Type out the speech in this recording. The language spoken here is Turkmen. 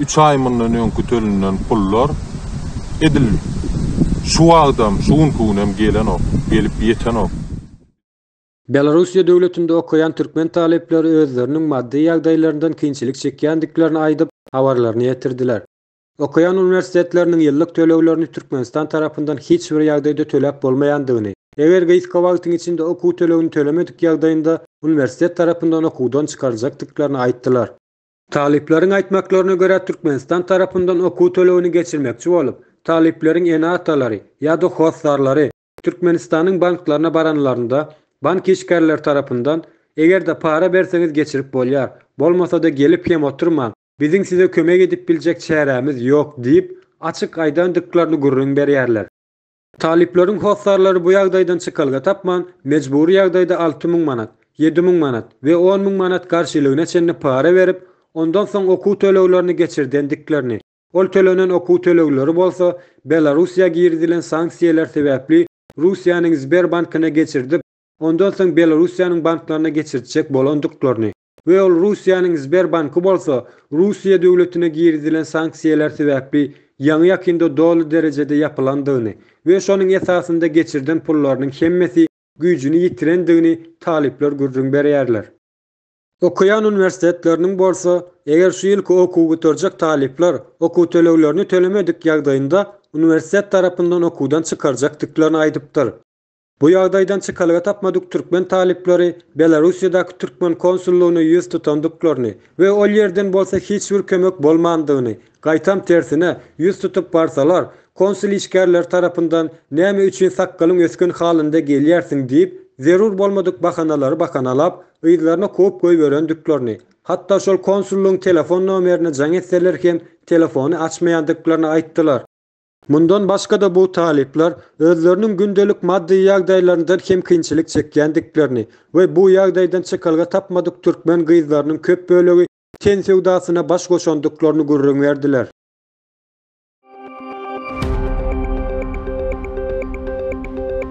Üç aý mundan öňki tölünen pullar edil şu wagtam, şu günki günem gelenok, gelip ýetenok. Belarussiýa döwletinde okaýan türkmen talyplary özleriniň maddy ýagdaýlaryndan kynçylyk çekýändiklerini aýdyp, habarlaryny ýetirdiler. Okaýan uniwersitetleriniň ýyllyk töleglerini Türkmenistan tarapyndan hiç bir ýagdaýda töläp bolmaýandygyny, eger gysga wagtyň içinde okuw tölegini tölemedik ýagdaýynda uniwersitet tarapyndan okuwdan çykaryljakdyklaryny aýtdylar. Talyplaryň aýtmaklaryna görä, Türkmenistan tarapyndan okuw tölegini geçirmekçi bolup, talyplaryň ene-atalary ýa-da hossarlary Türkmenistanyň banklaryna baranlarynda, bank işgärleri tarapyndan, Eger-de para berseňiz geçirip bolýar, bolmasa-da gelip hem oturmaň, biziň size kömek edip biljek çärämiz ýok diýip, açyk aýdandyklaryny gürrüň berýärler. Talyplaryň hossarlary bu ýagdaýdan çykalga tapman, mejbury ýagdaýda alty müň manat, ýedi müň manat we on müň manat garşylygyna çenli para berip, ondan soň okuw töleglerini geçirdendiklerini, ol tölenen okuw tölegleri bolsa Belarussiýa girizilen sanksiýalar sebäpli Russiýanyň Sberbankyna geçirdip, ondan soň Belarussiýanyň banklaryna geçirtjek bolandyklaryny, we ol Russiýanyň Sberbanky bolsa Russiýa döwletine girizilen sanksiýalar sebäpli ýaňy-ýakynda doly derejede ýapylandygyny we şonuň esasynda geçirden pullarynyň hemmesi güýjüni ýitirendigini talyplar gürrüň berýärler. Okaýan uniwersitetleriniň bolsa, eger şu ýylky okuwy gutarjak talyplar okuw töleglerini tölemedik ýagdaýynda uniwersitet tarapyndan okuwdan çykarjakdyklaryny aýdypdyr. Bu ýagdaýdan çykalga tapmadyk türkmen talyplary Belarussiýadaky türkmen konsullygyna ýüz tutandyklaryny we ol ýerden bolsa hiç bir kömek bolmandygyny, gaýtam tersine, ýüz tutup barsalar, konsul işgärleri tarapyndan näme üçin sakgalyň ösgen halynda gelýärsiň diýip, zerur bolmadyk bahanalary bakanalap, yzlaryna kowup goýberendiklerini, hatda şol konsullygyň telefon nomerine jaň etseler hem telefony açmaýandyklaryny aýtdylar. Mundan başga-da bu talyplar özleriniň gündelik maddy ýagdaýlaryndan hem kynçylyk çekýändiklerini we bu ýagdaýdan çykalga tapmadyk türkmen gyzlarynyň köp bölegi ten söwdasyna baş goşandyklaryny gürrüň berdiler.